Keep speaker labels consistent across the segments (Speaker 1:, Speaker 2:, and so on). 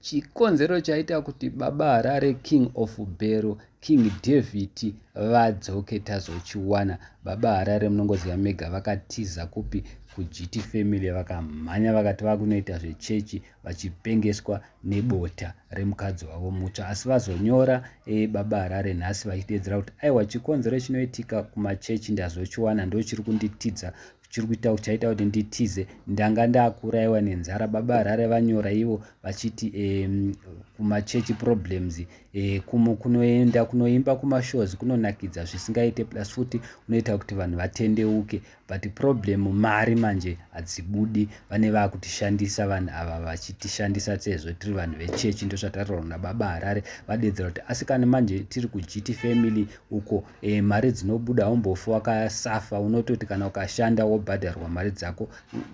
Speaker 1: Chikonzero chaita kuti baba Harare King of Bhero King David vadzoke tazochiwana. Baba Harare munongoziva mega vakatiza kupi kuGT family vakamhanya vakati vakunoita zvechechi vachipengeswa nebota remukadzi wavo mutsva asi vazonyora e, baba Harare nhasi vachiteedzera kuti aiwa chikonzero chinoitika kumachechi ndazochiwana ndochiri kunditidza chiri kuita chaita kuti nditize ndanga ndakuraiwa nenzara baba harare vanyora ivo vachiti um, kumachechi problems um, kumo kunoenda kunoimba kumashows kunonakidza zvisingaite plus futi unoita kuti vanhu vatendeuke but problem mari manje hadzibudi vane vakutishandisa vanhu ava vachitishandisa sezvo tiri vanhu vechechi ndozvatataurwa nababa harare vadedzera kuti asi kana manje tiri kugiti family uko e, mari dzinobuda haumbofi wakasafa unototi kana ukashanda wobhadharwa mari dzako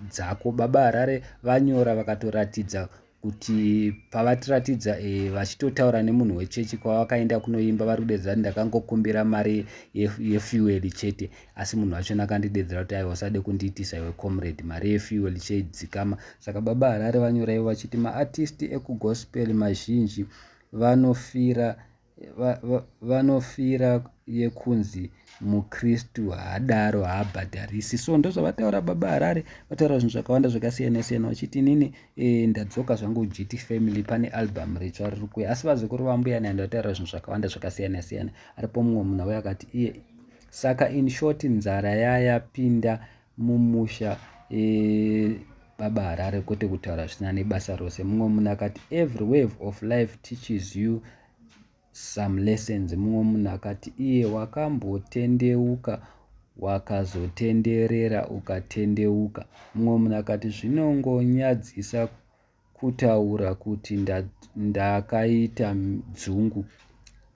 Speaker 1: dzako baba harare vanyora vakatoratidza kuti pavatiratidza e, vachitotaura nemunhu wechechi kwavakaenda kunoimba vari kudedzera kuti ndakangokumbira mari yefuel ye chete asi munhu vachona akandidedzera kuti aiwa usade kundiitisa iwe comrade mari yefuel cheidzikama saka baba harare vanyora ivo vachiti maartisti ekugospel mazhinji vanofira vanofira yekunzi mukristu haadaro haabhadharisi so ndozvavataura baba harare vataura zvinhu zvakawanda zvakasiyana siyana vachiti inini e, ndadzoka zvangu gt family pane album ritsva riri kuya asi vazukuru vambuya nandi vataura zvinhu zvakawanda zvakasiyana siyana aripo mumwe munhu auya akati iye saka in short nzara yayapinda mumusha baba harare kwete kutaura zvisina nebasa rose mumwe munhu akati every wave of life teaches you some lessons mumwe munhu akati iye wakambotendeuka wakazotenderera ukatendeuka mumwe munhu akati zvinongonyadzisa kutaura kuti ndakaita dzungu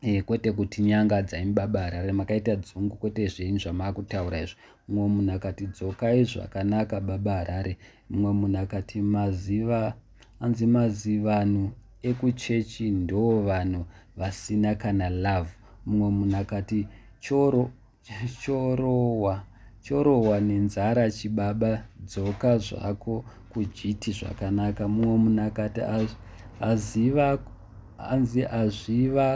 Speaker 1: eh, kwete kuti nyanga dzaimi baba harare makaita dzungu kwete zvenyu zvamakutaura izvo mumwe munhu akati dzokai zvakanaka baba harare mumwe munhu akati maziva anzi mazivanhu ekuchechi ndoo vanhu vasina kana love mumwe munhu akati choro Chorohwa chorohwa nenzara chibaba dzoka zvako kujiti zvakanaka mumwe munhu akati aziva anzi azviva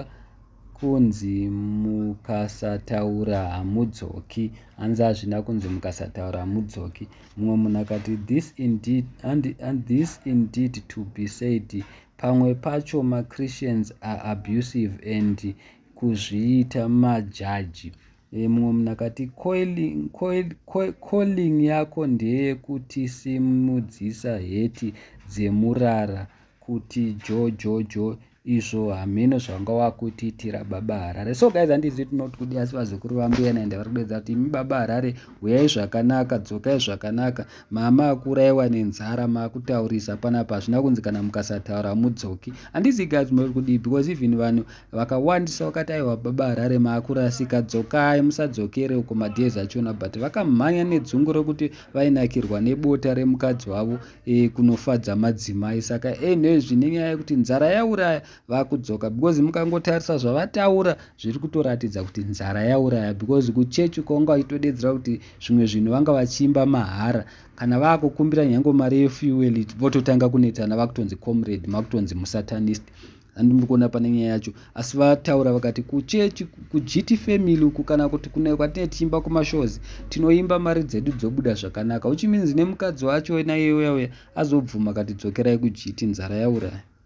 Speaker 1: kunzi mukasataura hamudzoki anzi azvina kunzi mukasataura hamudzoki mumwe munhu akati this indeed and, and this indeed to be said pamwe pacho machristians are abusive and kuzviita majaji mumwe munhu akati coiling, coil, coil, coiling yako ndeyekutisimudzisa heti dzemurara kuti jojojo izvo hameno zvanga wakutiitira baba harare so guys handizvi tinoti kudi asi vazukuru vambuya naenda vari kudedza kuti imi baba harare huyai zvakanaka dzokai zvakanaka mama akuraiwa nenzara makutaurisa panapa hazvina kunzi kana mukasataura mudzoki handizi guys tinoti kudii because even vanhu Vakawandisa vakati aiwa baba Harare maakurasika dzokai musadzokere uko madhezi achona but vakamhanya nedzungu rekuti vainakirwa nebota remukadzi wavo e, kunofadza madzimai saka enezvi nenyaya yekuti nzara yauraya vakudzoka because mukangotarisa zvavataura zviri kutoratidza kuti nzara yauraya because kuchechi kwanga vachitodedzera kuti zvimwe zvinhu vanga vachiimba mahara kana vakukumbira nyange mari yefuel vototanga kunetsana vakutonzi comrade makutonzi musatanist handimbi kuona pane nyaya yacho asi vataura vakati kuchechi kugt family uku kana kuti kune kwatine tichimba kumashows tinoimba mari dzedu dzobuda zvakanaka uchiminzi nemukadzi wacho naiyeuya uya azobvuma kati dzokerai kugt nzara yauraya